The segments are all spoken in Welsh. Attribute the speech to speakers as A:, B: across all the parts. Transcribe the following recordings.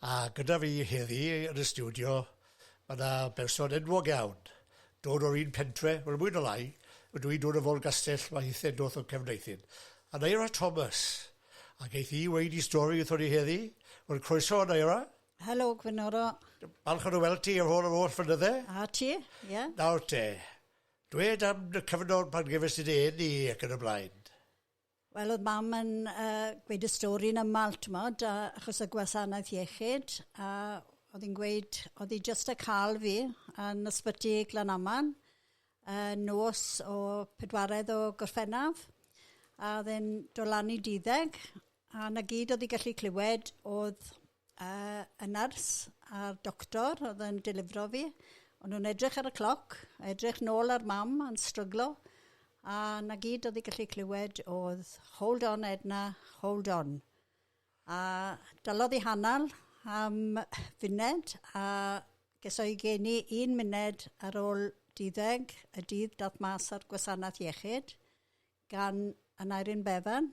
A: A gyda fi heddi yn y stiwdio, mae yna berson enwog iawn, dod o'r un pentre, wel mwy na lai, ydw i'n dod o Folgastell, mae hithe doth o Cefneithin. A Naira Thomas, a geith hi weid i stori wrthon ni heddi, wel croeso Naira. Helo, Gwynoro.
B: Balch o dy weld
A: ti ar ôl yr holl fynydde. A ti, ie.
B: Yeah. Nawr te,
A: dwed am y cyfnod pan gefes ti dy eni ac yn y blaen. Wel oedd
B: mam yn yy gweud y stori yn yml t'mod a achos y gwasanaeth iechyd a oedd hi'n gweud oedd hi jyst y ca'l fi yn ysbyty Glanaman yy nos o pedwaredd o Gorffennaf a oedd e'n do lan i duddeg a 'na gyd oedd hi gallu clywed oedd A y nyrs a'r doctor oedd yn delifro fi, o'n nhw'n edrych ar y cloc, a edrych nôl ar mam yn stryglo, a 'na gyd oedd hi gallu clywed oedd hold on Edna, hold on. A dalodd hi hanner am funed, a ges o'i geni un muned ar ôl duddeg y dydd daeth mas o'r gwasanaeth iechyd gan Aneurin Bevan,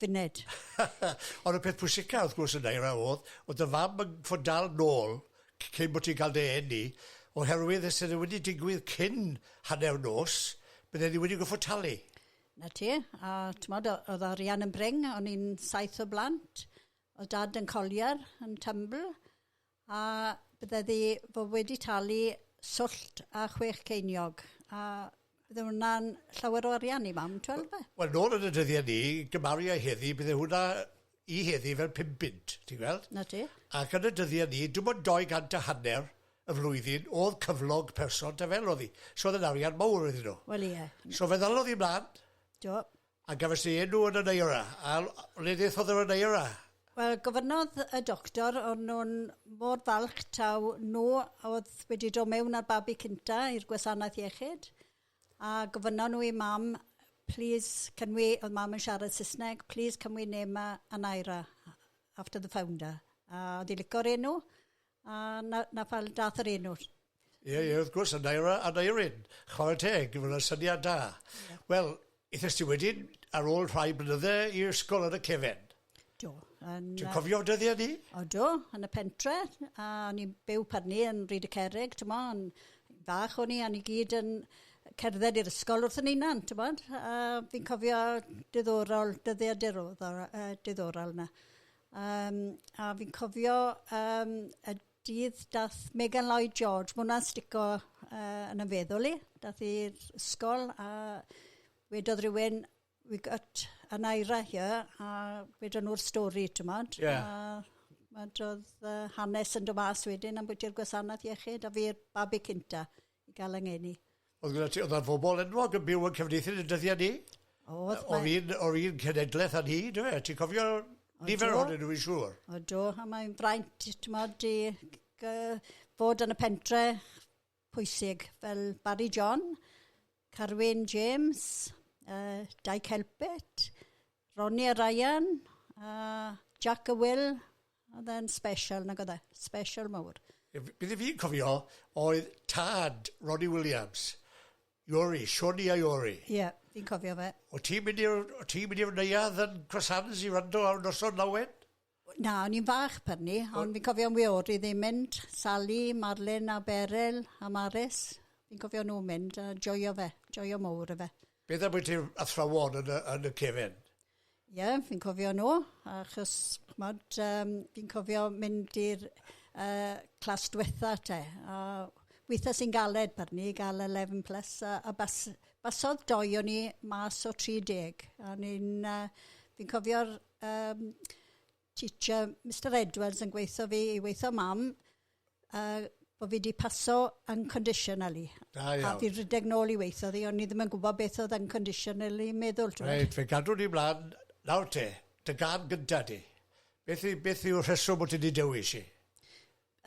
B: funud.
A: Ond y peth pwysica wrth gwrs yna yna oedd, oedd dy fam yn fod dal nôl cyn bod ti'n cael dy eni, oherwydd os ydy wedi digwydd cyn hanner nos, bydde ni wedi goffod talu. Na ti,
B: a tmod, oedd arian yn bring, o'n i'n saith o blant, oedd dad yn coliar, yn tymbl, A bydde ddi fo wedi talu swllt a chwech ceiniog, a bydde hwnna'n llawer o arian i mam, twel ynde? Wel, nôl yn y dyddie
A: ni, gymaru â heddi, bydde hwnna i heddi fel pum bunt, ti'n gweld? 'Na ti. Ac yn y
B: dyddie ni,
A: dim ond dou gant a hanner y flwyddyn o'dd cyflog person ta fel o'dd 'i. So o'dd e'n arian mowr iddyn nw. Wel ie. So fe
B: ddalodd 'i mlan.
A: Do.
B: A gafes dy
A: enw yn y Naira? A le ddaethodd yr Naira? Wel, gofynnodd
B: y doctor, o'n nhw'n mor falch taw nhw oedd wedi dod mewn â'r babi cynta i'r gwasanaeth iechyd, a gofynnon nhw i mam, please, can we, oedd mam yn siarad Saesneg, please can we name a Naira after the founder? A oedd hi licio'r enw, A 'na 'na pam dath yr enw. Ie ie wrth
A: gwrs a Naira a Neirin. Chware teg, ma' wnna'n syniad da. Ie. Wel, ithest ti wedyn ar ôl rhai blynydde i ysgol yn y cefen? Do,
B: yn yy... Ti'n cofio
A: dyddie ni? O do, yn y
B: pentre, a o'n i'n byw pan ni yn Ryd y Cerrig, t'mo, yn fach o'n i a ni gyd yn cerdded i'r ysgol wrth 'yn hunan, t'mod? A fi'n cofio diddorol, dyddie diroddol yy diddorol 'na. Yym a fi'n cofio yym y dydd dath Megan Lloyd George, ma' hwnna'n stico yy yn 'y feddwl i, dath i'r ysgol a wedodd rywun we got a Naira here a wedon nhw'r stori t'mod... Ie. ...a wedodd yy hanes yn do' mas wedyn ambwytu'r gwasanaeth iechyd a fi'r babi cynta. i gael yng ngeni. Oedd gyda ti, oedd yna bobl enwog
A: yn byw yn Cefneithin yn y dyddiau ni? Oedd. O fi'n, o fi'n cenedlaeth a ni, dwi fe. Ti'n cofio nifer o'n nhw i siŵr? O do, a mae'n
B: fraint, ti'n modd, di fod yn y pentre pwysig fel Barry John, Carwyn James, uh, Dai Celpet, Ronnie a Ryan, uh, Jack a Will, Odd e'n sbesial nag odd e? Sbesial mowr. Be' be' dwi fi'n cofio
A: oedd tad Ronnie Williams, Iori, Sioni a Iori. Ie, fi'n cofio
B: fe. O' ti'n mynd i'r o'
A: ti'n mynd i'r neuadd yn Crosshands i wrando ar noson lawen? Na, o'n i'n
B: fach pan 'ny, ond fi'n cofio am Iori ddim mynd, Sali, Marlyn a Beryl a Maris, fi'n cofio nhw'n mynd a joio fe, joio mowr efe. Beth ambwytu'r
A: athrawon yn y yn y cefen? Ie,
B: fi'n cofio nhw, achos ch'mod yym fi'n cofio mynd i'r yy clas diwetha' te, a withe sy'n galed bydden ni ga'l eleven plus a a bas- basodd dou o ni mas o tri deg, a o'n i'n yy fi'n cofio'r yym teacher Mister Edwards yn gweithio fi i weithio mam a bod fi wedi paso unconditionally. Da iawn. A fi
A: rhedeg nôl
B: i weithio ddi, ond ni ddim yn gwybod beth oedd unconditionally meddwl. Reit, fe gadw ni
A: mlaen. Nawr te, dy gan gynta di. Beth, i, beth yw'r rheswm bod ti wedi dewis i?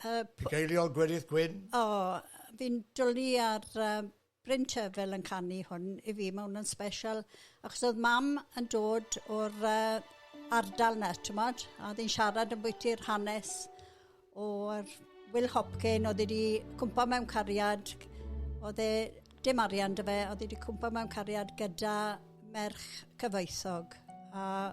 A: Uh, Dy geiliol Gwenith Gwyn? O, oh, fi'n
B: dwlu ar uh, Bryn Terfel yn canu hwn i fi, mae hwn yn special achos oedd mam yn dod o'r uh, ardal na, ti'n modd, a oedd hi'n siarad yn bwyty'r hanes o'r Will Hopkin, oedd wedi cwmpa mewn cariad, oedd e, dim arian dy fe, oedd wedi cwmpa mewn cariad gyda merch cyfoethog. A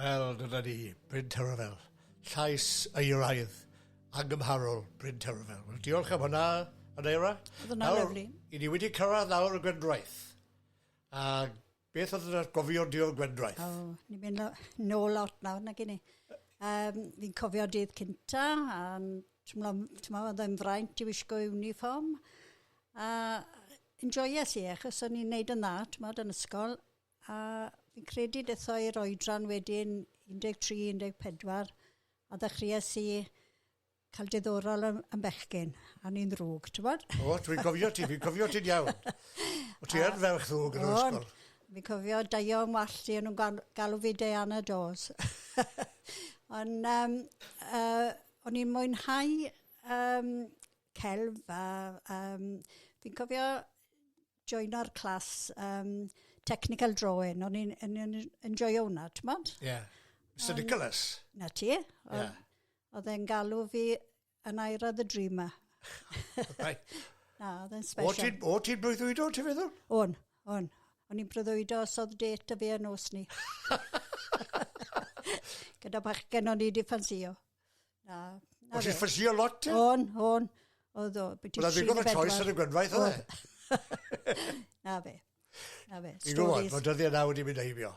C: Wel,
A: dyna ni, Bryn Terfel. Llais euraidd, angymharol, Bryn Terfel. Wel, diolch am hwnna, Aneira. Oedd hwnna lyflu.
B: I ni wedi cyrraedd
A: nawr y Gwendraeth. A beth oedd yna'r gofio di o'r Gwendraeth? O, oh, ni'n mynd
B: nôl lot nawr, na gynnu. Um, fi'n cofio dydd cynta, a ti'n meddwl, oedd e'n fraint i wisgo uniform. A enjoyes i, achos o'n i'n neud yn dda, ti'n meddwl, yn ysgol. A fi'n credu detho i'r oedran wedyn 13, 14 a ddechreuais i cael diddorol yn, yn bechgyn, a ni'n ddrwg, ti'n bod? O, dwi'n cofio ti,
A: fi'n cofio ti'n iawn. O ti yn ferch ddrwg yn yr ysgol. Fi'n cofio
B: daio yn wallt i, nhw'n galw fi Diana Dawes. Ond um, uh, o'n i'n mwynhau um, celf a um, fi'n cofio joino'r clas um, technical drawing. O'n i'n enjoyo hwnna, ti'n bod? Ie. Yeah. Mr
A: Nicholas. Na ti. Yeah.
B: Oedd e'n galw fi yn Aira the Dreamer.
A: na, oedd
B: e'n special. O, ti'n breuddwydo,
A: ti'n feddwl? O'n, o'n.
B: O'n i'n breuddwydo os oedd det y fi yn os ni. Gyda bach gen o'n i di ffansio. Na.
A: na Os i ffysio lot ti? O'n, o'n.
B: Oedd o. Oedd o ddigon o choice ar
A: y gwenwaith, oedd e? na fe.
B: Na fe. Ti'n
A: gwybod, mae dyddiau na wedi mynd heibio.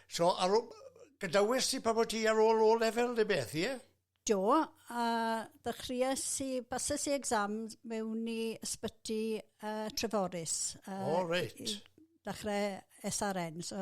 A: So, ar ôl, gydawes ti pa bod ti ar ôl o lefel neu beth, ie? Yeah? Do,
B: a ddechreuais i, bases i exam mewn i ysbyty uh, Treforys. Uh, o, reit.
A: Dechrau
B: SRN, so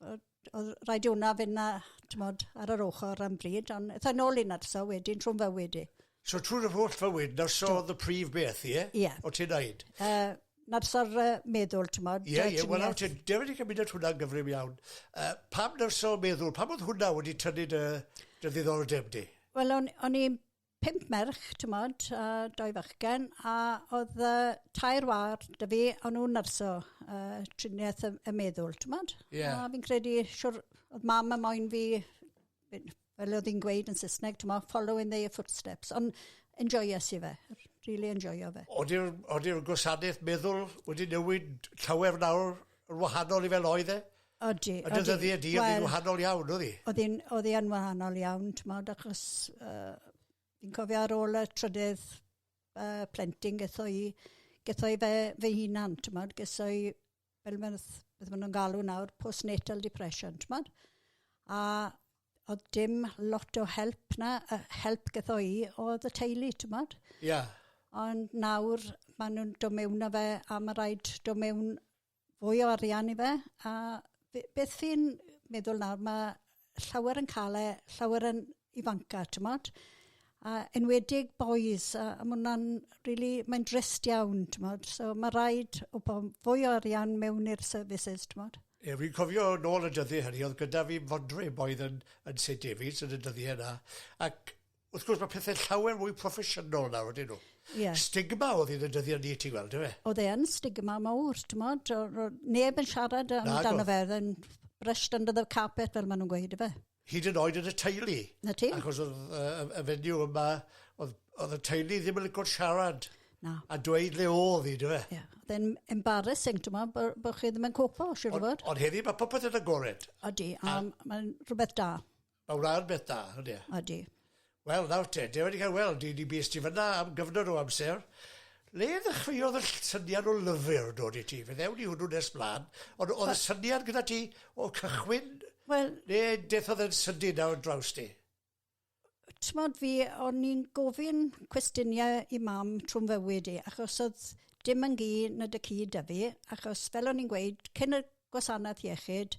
B: Wel, oedd rhaid i hwnna fynd 'na, t'mod, ar yr ochr am bryd, ond ethai nôl i nyrsio wedyn trw'n fywyd i. So trwy dy holl
A: fywyd, nyrsio oedd y prif beth, ie? Ie. O' ti'n neud?
B: Yy,
A: nyrsio'r
B: yy meddwl, t'mod, Ie, ie, wel nawr ti'n
A: definitely yn mynd at hwnna'n gyflym iawn. Yy, pam nyrsio meddwl? Pam oedd hwnna wedi tynnu dy dy ddiddordeb di? Wel, o'n o'n i'n
B: pump merch, t'mod, a doi fachgen, a oedd uh, tair war dy fi, o'n nhw'n nyrs o uh, triniaeth y, y meddwl, t'mod? Yeah. A fi'n credu,
A: siwr,
B: oedd mam y moyn fi, fel oedd hi'n gweud yn Saesneg, t'mod, follow in their footsteps. Ond enjoyo si fe, really enjoyo fe. Oeddi'r
A: gwasanaeth meddwl wedi newid llawer nawr yn wahanol i fel oedd e? Odi, odi. Dy ddyddiau
B: di, oedd
A: hi'n wahanol iawn, oedd hi? Oedd hi'n oedd hi yn
B: wahanol iawn, ti'n modd, achos uh, fi'n cofio ar ôl y trydydd uh, plentyn getho i, getho i fe fy hunan, ti'n modd, getho i, fel mae'n beth maen nhw'n galw nawr, postnatal depression, ti'n modd? A oedd dim lot o help na, uh, help getho i, oedd y teulu, ti'n modd? Ia. Yeah.
A: Ond
B: nawr, maen nhw'n dod mewn â fe, a mae rhaid dod mewn fwy o arian i fe a be' beth fi'n meddwl nawr ma' llawer yn ca'l e llawer yn ifanca' t'mod? A enwedig bois a a ma' wnna'n rili mae'n drist iawn t'mod so ma' raid wbo- fwy o arian mewn i'r services t'mod? Ie fi'n cofio
A: nôl y dyddie hynny o'dd gyda fi fodryb oedd yn yn Saint David's yn y dyddie 'na ac Wrth gwrs, mae pethau llawer mwy proffesiynol nawr, ydyn nhw. Yeah. Stigma
B: oedd yn y
A: dyddiau ni, ti'n gweld, efe? Oedd e yn stigma
B: mawr, ti'n modd? Neb yn siarad amdano fe, oedd e'n brushed under the carpet, fel maen nhw'n gweud, efe? Hyd yn oed yn y
A: teulu. Na ti? Achos oedd
B: uh, y
A: fenyw yma, oedd, oedd y teulu ddim yn lygo'r siarad. Na. A dweud
B: le
A: oedd hi, dweud. Ie. Yeah. Oedd e'n
B: embarrassing, ti'n modd, bod bo chi ddim yn copo, siwr o fod. Ond heddi, mae popeth yn
A: agored. Odi, a, a...
B: mae'n rhywbeth da. Mae'n wlad beth
A: da, odi e? Odi.
B: Wel, nawr
A: te, dwi wedi cael weld, dwi wedi bus ti fyna am gyfnod o amser. Le ddechreuodd y syniad o lyfr dod i ti? Fe ddewn i hwnnw nes blaen. Ond oedd y syniad gyda ti o cychwyn? Wel... Le
B: deithodd oedd
A: yn sydyn nawr draws ti?
B: Tmod fi, o'n i'n gofyn cwestiniau i mam trwy'n fywyd i, achos oedd dim yn gi na dy cyd da fi, achos fel o'n i'n gweud, cyn y gwasanaeth iechyd,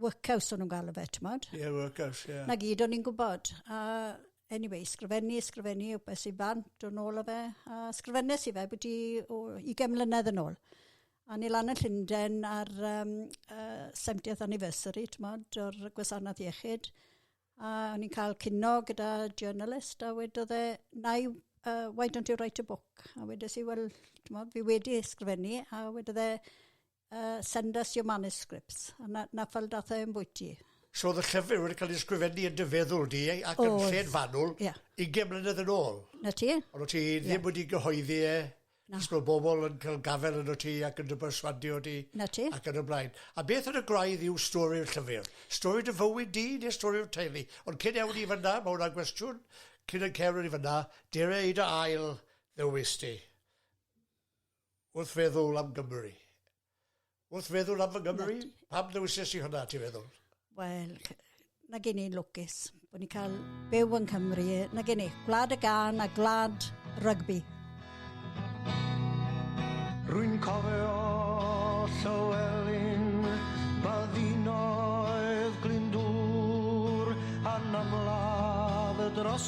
B: workhouse o'n nhw'n galw fe, ti'n modd? Ie, yeah, workhouse, ie. Yeah. Na
A: gyd o'n i'n gwybod.
B: A anyway, sgrifennu, sgrifennu, o beth sy'n fant o'n ôl o fe. A sgrifennu sy'n fe bwyty o 20 mlynedd yn ôl. A ni lan yn Llundain ar um, uh, 70th anniversary, ti'n modd, o'r gwasanaeth iechyd. A o'n i'n cael cynno gyda journalist a wedodd e, na i uh, why don't you write a book? A wedodd si, wel, fi wedi ysgrifennu, a wedodd e, uh, send us your manuscripts. A na, na fel dath e yn bwyty. So oedd
A: y llyfr wedi cael ei ysgrifennu yn dyfeddwl di ac yn lle'n fanwl yeah. 20 mlynedd yn ôl. Na ti? Ond o ti
B: ddim yeah. wedi
A: gyhoeddi e. Na. Os mae bobl yn cael gafel yn o ti ac yn dy berswadio ti. Na ti? Ac yn y blaen.
B: A
A: beth yn y gwraidd yw stori'r llyfr? Stori dy fywyd di neu stori'r teulu? Ond cyn ewn i fyna, mae hwnna'n gwestiwn, cyn yn cewn i fyna, dere i dy ail ddewis ti. Wrth feddwl am Gymru. Wrth feddwl am fy Nghymru? Pam ddewises i hwnna, ti'n feddwl? Wel,
B: na gen i'n lwcus bod ni'n cael byw yn Cymru. Na gen i, gwlad y gan a gwlad rygbi.
D: Rwy'n cofio Llywelyn, baddinoedd Glyndŵr, anamladd y dros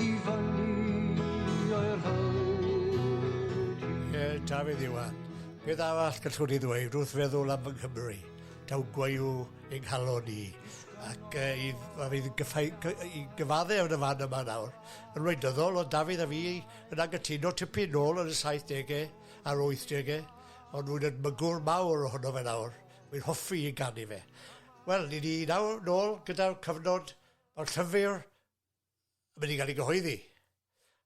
D: I fyny o'r hyd. Ie, Dafydd
A: Iwan. Beth arall gallwn i ddweud wrth feddwl am fy Nghymru? Taw gwayww yng nghalon ni. Ac uh, i, a fydd gyffau, i gyfadde yn y fan yma nawr, yn wleidyddol, ond Dafydd a fi yn angytuno tipyn nôl yn y 70au a'r 80au, ond rwy'n edmygwr mawr ohono fe nawr. Rwy'n hoffi i ganu fe. Wel, ni ni nawr nôl gyda'r cyfnod o'r llyfr mae wedi cael ei gyhoeddi.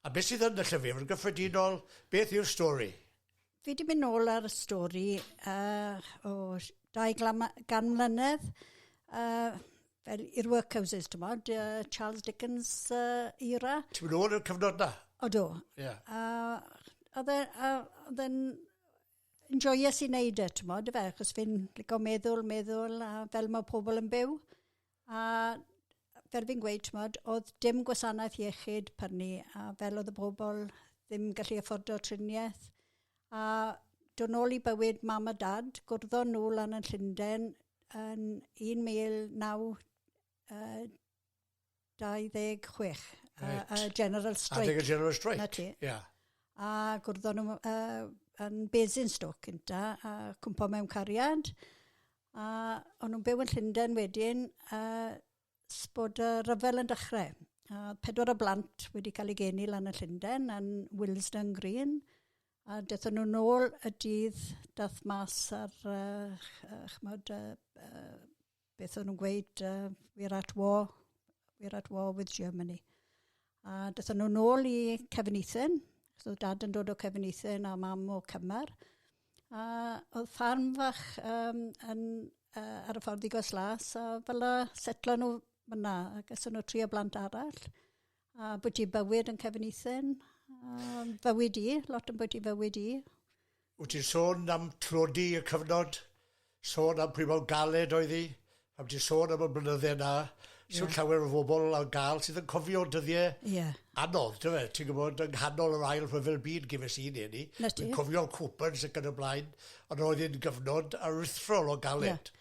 A: A beth sydd yn y llyfr? Yn gyffredinol, beth yw'r stori? Fi wedi mynd
B: nôl ar y stori uh, o dau gan mlynedd. Uh, fel i'r workhouses, ti'n bod, uh, Charles Dickens uh, era. Ti'n mynd ôl i'r cyfnod
A: na? O do.
B: Yeah.
A: Uh,
B: oedd e'n enjoyous i wneud e, ti'n modd, fe, achos fi'n licio meddwl, meddwl, a fel mae pobl yn byw. A fel fi'n gweud, t'mod, o'dd dim gwasanaeth iechyd pan 'ny, a fel o'dd y bobl ddim gallu affordo trinieth, a do' nôl i bywyd mam a dad, gwrddon nhw lan yn Llunden yn 1926. Reit. Yy y General Strike. Adeg y General Strike. 'na ti.
A: Ia.
B: A
A: gwrddon
B: nhw yy yn Basingstoke cynta, a cwmpo mewn cariad, A o'n nhw'n byw yn Llundain wedyn ers bod y rhyfel yn dechrau. A oedd pedwar o blant wedi cael eu geni lan yn Llundain, yn Willesden Green. A dethon nhw'n ôl y dydd dath mas ar, uh, chmod, uh, uh, beth o'n nhw'n gweud, uh, we're at war, we're at war with Germany. A dython nhw nôl i Cefnithen, so oedd dad yn dod o Cefnithen a mam o Cymar. A oedd ffarm fach um, yn, uh, ar y ffordd i Gos Las, a fel y setlo nhw fyna, ac ys nhw tri o blant arall. A bod i bywyd yn Cefnithen, a bywyd i, lot yn bod i bywyd i. Wt ti'n
A: sôn am tlodi y cyfnod, sôn am pwy mor galed oedd hi, pan ti'n sôn am y blynydde 'na, sut llawer o bobl ar ga'l sydd yn cofio dyddie anodd, dyfe, ti'n gwybod, yng nghanol yr ail rhyfel byd gyfes i neu ni, dwi'n cofio'r coupons ac yn y blaen, ond roedd hi'n gyfnod aruthrol o galed.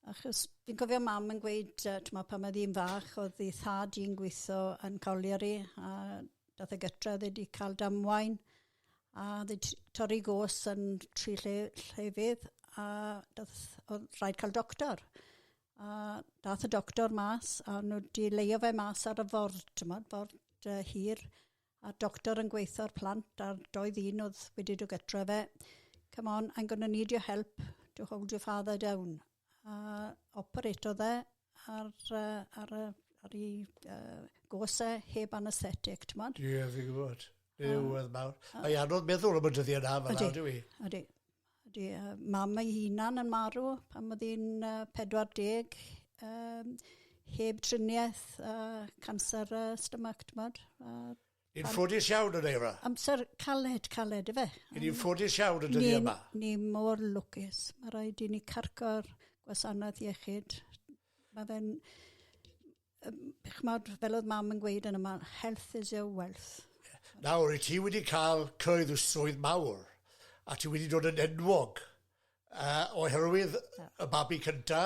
A: Achos
B: fi'n cofio mam yn gweud, uh, t'mo' pan oedd hi'n fach, oedd hi thad i'n gweithio yn Colliery, a dath e gytra, oedd e wedi cael damwain, a oedd e torri gos yn tri lle llefydd, a dath, oedd rhaid cael doctor. A dath y doctor mas, a nhw wedi leio fe mas ar y ford, t'mod, ford uh, hir, a doctor yn gweitho ar plant a'r doi ddyn oedd wedi dod gytra fe, come on, I'm going to need your help to hold your father down. A operato dde ar, uh, ar, uh, ar ei uh, gose heb anesthetic, ti'n modd? Ie, yeah, fi'n gwybod.
A: Ie, oedd mawr. Mae anodd meddwl am y dyddiau na, fel awr, dwi. Ydy, ydy.
B: Ydy, mam ei hunan yn marw pan oedd hi'n 40, um, heb triniaeth a canser uh, stomach, ti'n bod? Uh, Yn ffodus
A: iawn yn eira. Amser caled,
B: caled, efe. Yn ni'n ffodus
A: iawn yn dyddi yma. Ni mor
B: lwcus. Mae rhaid i ni carco'r gwasanaeth iechyd. Mae fe'n... Yym ch'mod fel o'dd mam yn gweud yn amal health is your wealth. Nawr i ti
A: wedi ca'l creudd y swydd mawr a ti wedi dod yn enwog yy oherwydd y babi cynta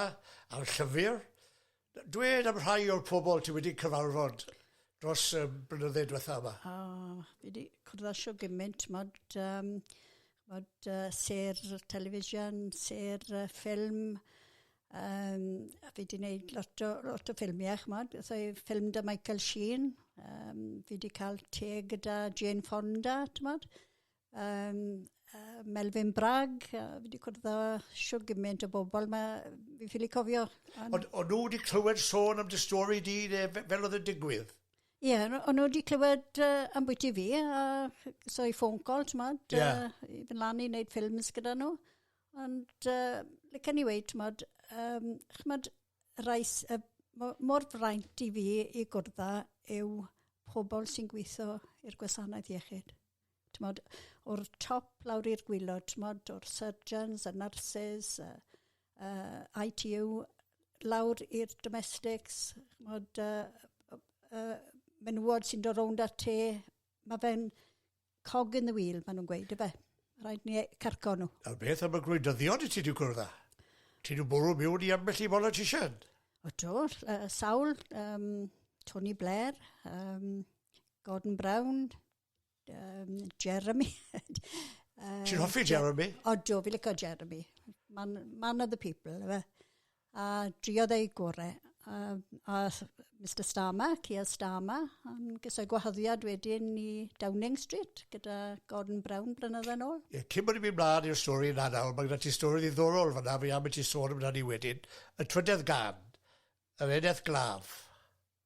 A: a'r llyfyr dwed am rhai o'r pobol ti wedi cyfarfod dros y blynydde dwetha yma. O fi wedi
B: cwrdd â shw gymint t'mod yym ch'mod yy sêr television sêr yy ffilm Yym a fi 'di neud lot o lot o ffilmie ch'mod so i ffilm 'da Michael Sheen yym fi 'di ca'l teg gyda Jane Fonda t'mod yym yy Melvyn Bragg a fi 'di cwrdd â shwd giment o bobol ma' yy fi ffili cofio on'... O'n o'n nw 'di
A: clywed sôn am dy stori di ne' f- fel o'dd e'n digwydd? Ie o' nw o'
B: nw 'di clywed yy ambwyty fi a so i ffôn call t'mod... Ie. ...yy i fyn lan i neud ffilms gyda nw. Ond yy licen i weud t'mod yym ch'mod rai s- yy mo- mor fraint i fi i gwrdd â yw pobol sy'n gwitho i'r gwasanaeth iechyd. T'mod o'r top lawr i'r gwilod t'mod o'r surgeons y nyrsys y yy ITU lawr i'r domestics ch'mod yy yy yy menywod sy'n do' rownd â'r te ma' fe'n cog in the wheel, maen nhw'n gweud, efe. Rhaid ni e- carco nhw. Nawr beth am y gwleidyddion
A: i ti wedi gwrdd â? Ti wedi bwrw miwn i ambell i politician? O do, uh,
B: sawl, um, Tony Blair, um, Gordon Brown, um, Jeremy. uh,
A: Ti'n hoffi Jeremy? O do, fi licio
B: Jeremy. Man, man of the people, efe. A driodd ei gore. A a Mister Starmer, Keir Starmer, yn gyda gwahoddiad wedyn i Downing Street gyda Gordon Brown blynydde nôl. Ie, cyn bod ni'n mynd mlaen i'r
A: stori yna nawr, mae gyda ti stori ddiddorol fanna, fi am i ti sôn amdani wedyn. Y trydedd gân, yr eneth glaf.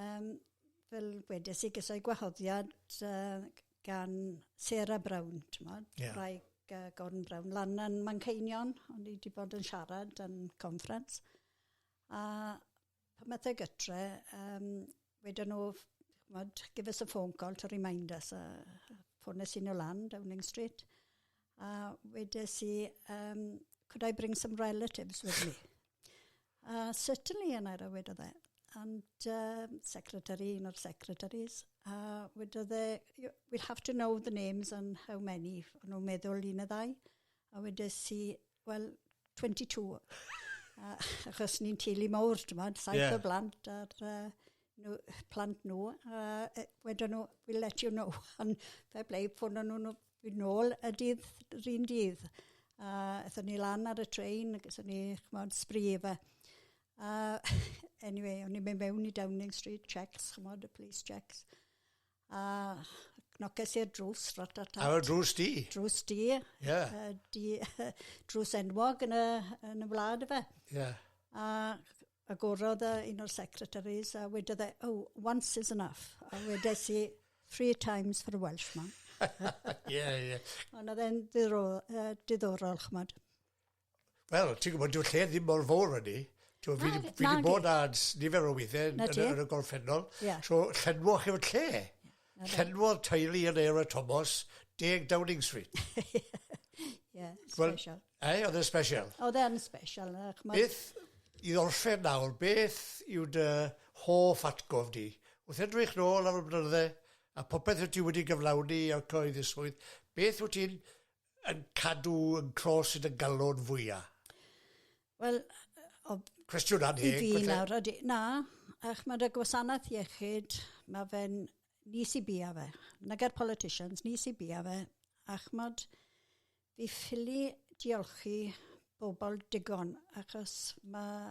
B: Yym, fel wedes i, ges i gwahoddiad yy g- gan Sarah Brown, t'mod... Ie. ...gwraig yy Gordon Brown, lan yn Manceinion, o'n i 'di bod yn siarad yn conference, a pan ath e gytre, yym, weden nw, ff- ch'mod, give us a phone call to remind us, a ffones i nw lan, Downing Street, a wedes i, yym, could I bring some relatives with me? Uh, certainly, and I read of that. And um, secretary, un o'r secretaries, a uh, wedodd e, we'll have to know the names and how many, o'n nhw'n meddwl un y ddau. A wedodd si, well, 22. uh, achos ni'n teulu mawr, ti'n modd, saith yeah. o blant ar uh, nhw, plant nhw, a uh, wedyn nhw, we'll let you know. Ond fe ble, ffono nhw nhw fi'n ôl y dydd, yr un dydd. A ethon ni lan ar y train, ac ethon ni, chymod, sbri efe. A anyway, o'n i'n mynd mewn i Downing Street, checks, chymod, y police checks. A cnoces i'r drws ratata tat. Ar drws di?
A: Drws di.
B: Yeah. Uh, di,
A: uh,
B: drws enwog yn y, yn y wlad efe. Yeah. A agorodd uh, un o'r secretaries a wedodd e, oh, once is enough. A wedes i, three times for a Welshman. Ie,
A: ie. Ond oedd e'n
B: diddorol, uh, diddorol chmod. Wel,
A: ti'n gwybod, dyw'r lle ddim mor fawr â ni. Ti'n gwybod, fi 'di... fi 'di bod ar s- nifer o weithiau yn y yn y gorffennol. Ie. So, llenwoch yw'r lle. Llenwodd teulu yn Eora Tomos deg Downing Street.
B: Ie, Wel- special. Ei, oedd e'n special.
A: Oedd e'n special,
B: yy, ch'mod? Beth,
A: i orffen nawr, beth yw dy hoff atgof di? Wrth edrych nôl ar y blynydde, a popeth wyt ti wedi gyflawni a cyhoeddi swydd, beth wyt ti'n yn cadw yn clos i dy galon fwya? Wel,
B: o...
A: Cwestiwn anheg. I fi nawr, ydy, na,
B: a chymod y gwasanaeth iechyd, mae fe'n nis i bia fe. Na gair politicians, nis i bia fe. A chymod, fi ffili diolchi bobl digon, achos mae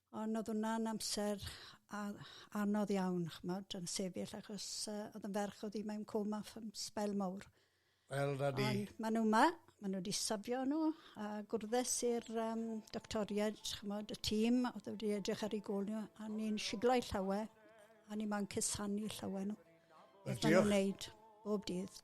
B: Ond oedd hwnna'n amser a- anodd iawn, ch'mod, yn sefyll achos uh, oedd yn ferch oedd hi mewn coma am sbel mawr. Wel, na di.
A: Ond maen nhw yma, maen
B: nhw wedi safio nhw, a gwrddes i'r um, doctoriaid, chymod, y tîm, oedd wedi edrych ar ei gol nhw, a ni'n siglo ei llawer, a ni maen cusanu llawer nhw. Beth maen nhw'n neud, bob dydd.